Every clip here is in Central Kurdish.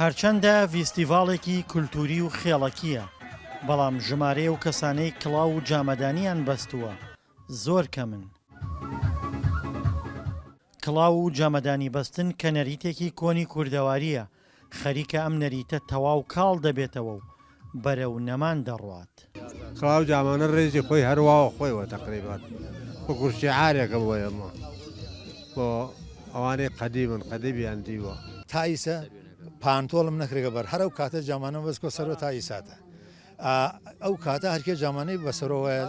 هەرچەندە ڤیستیڤاڵێکی کولتووری و خێڵەکییە، بەڵام ژمارەی ئەو کەسانەی کڵاو و جامەدانیان بەستووە زۆر کەمن. کڵاو و جامەدانی بەستن کە نەریتێکی کۆنی کوردەوارییە، خەریکە ئەم نەریتە تەواو کاڵ دەبێتەوە و بەرەو نەمان دەڕوات. کڵاو جامانە ڕێزی خۆی هەر وا و خۆیەوە تەقریبەن وەکوو شیعارێکە بۆ ئێمە، بۆ ئەوانەی قەدیمن، قەدیمیان دیوە. تائیسە پانتۆڵم نەکرگە بەر هەر ئەو کاتە جامانەم بەس کۆ سەرۆ تائیساتە ئا ئەو کاتە هەر کێ جامانەی بە سەرۆ وایە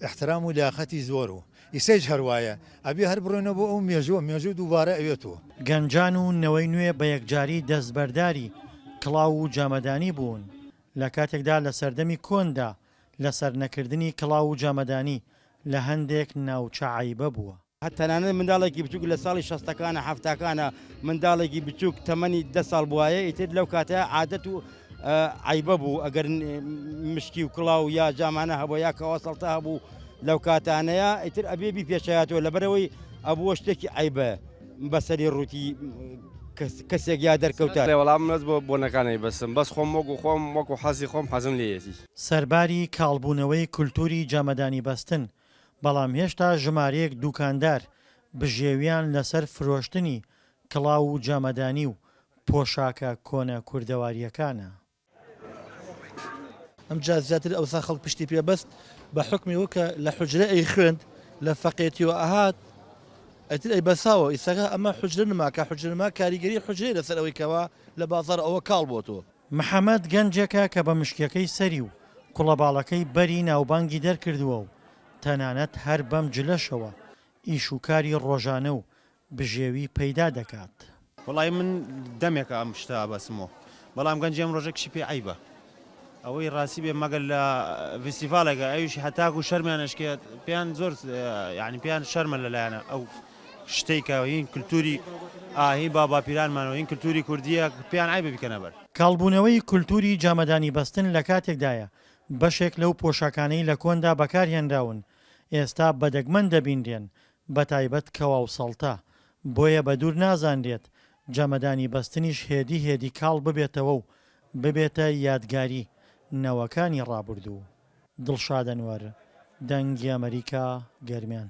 ئیحترام و لیاقەتی زۆر و ئیسەیش هەر وایە ئەبێ هەر بڕۆینەوە بۆ ئەو مێژووە، مێژوو دووبارە ئەوێتەوە. گەنجان و نەوەی نوێ بە یەکجاری دەستبەرداری کڵاو و جامەدانی بوون، لە کاتێکدا لە سەردەمی کۆندا لەسەر نەکردنی کڵاو و جامەدانی لە هەندێک ناوچە عەیبە بووە. تەنانەت منداڵێکی بچووک لە ساڵی شەستەکانە حەفتاکانە منداڵێکی بچووک تەمەنی دە ساڵ بوایە ئیتر لەو کاتە عادەت و عەیبە بوو ئەگەر مشکی و کڵاو یا جامانە هەبوو یا کەواسەڵتە هەبوو لەو کاتانەیە ئیتر ئەبێ بی پێشایەتەوە لەبەرەوەی ئەبووە شتێکی عیبە بەسەری ڕووتی کەسێک یا دەرکەوتە وەڵام نەت بۆ بۆنەکانی بەسم بەس خۆم وەکو خۆم وەکو حەزی خۆم حەزم لێیەتی. سەرباری کاڵبوونەوەی کولتووری جامەدانی بەستن، بەڵام هێشتا ژمارەیەک دووکاندار بژێوییان لەسەر فرۆشتنی کڵاو و جامەدانی و پۆشاکە کۆنە کوردەوارییەکانە. ئەمجا زیاتر ئەوسا خەڵک پشتی پێ بەست، بە حوکمی ئەوە کە لە حوجرە ئەیخوێند، لە فەقێتییەوە ئەهات، ئیتر ئەیبەساوە. ئیستاکە ئەمە حوجرە نما، کە حوجرە نما کاریگەریی حوجرەیە لەسەر ئەوەی کەوا لە بازاڕ ئەوە کاڵ بۆتۆ. محەمەد گەنجێکە کە بە مشکییەکەی سەری و کوڵە باڵەکەی بەری ناوبانگی دەرکردووە و تەنانەت هەر بەم جلەشەوە ئیش و کاری ڕۆژانە و بژێوی پەیدا دەکات. وەڵای من دەمێکە ئەم شتە ئەبەسمۆ بەڵام گەنجی ئەم ڕۆژە کچی پێ عەیبە ئەوەی ڕاستی بێ مەگەر لە ڤیستیڤاڵێکە ئەویش هەتاکو شەرمیان ئەشکێت پێیان زۆر یانی پێیان شەرمە لەلایەنە ئەو شتەی کە هین کلتوری ئاهی با باپیرانمانەوە هین کلتوری کوردیە پێیان عەیبە بیکەنە بەر. کاڵبوونەوەی کولتووری جامەدانی بەستن لە کاتێکدایە بەشێک لەو پۆشاکانەی لە کۆندا بەکارهێنراون ئێستا بە دەگمەن دەبینرێن بەتایبەت کەوا و سەڵتە، بۆیە بەدوور نازانرێت جەمەدانی بەستنیش هێدی هێدی کاڵ ببێتەوە و ببێتە یادگاری نەوەکانی ڕابوردوو. دڵشاد ئەنوەر، دەنگی ئەمەریکا، گەرمیان.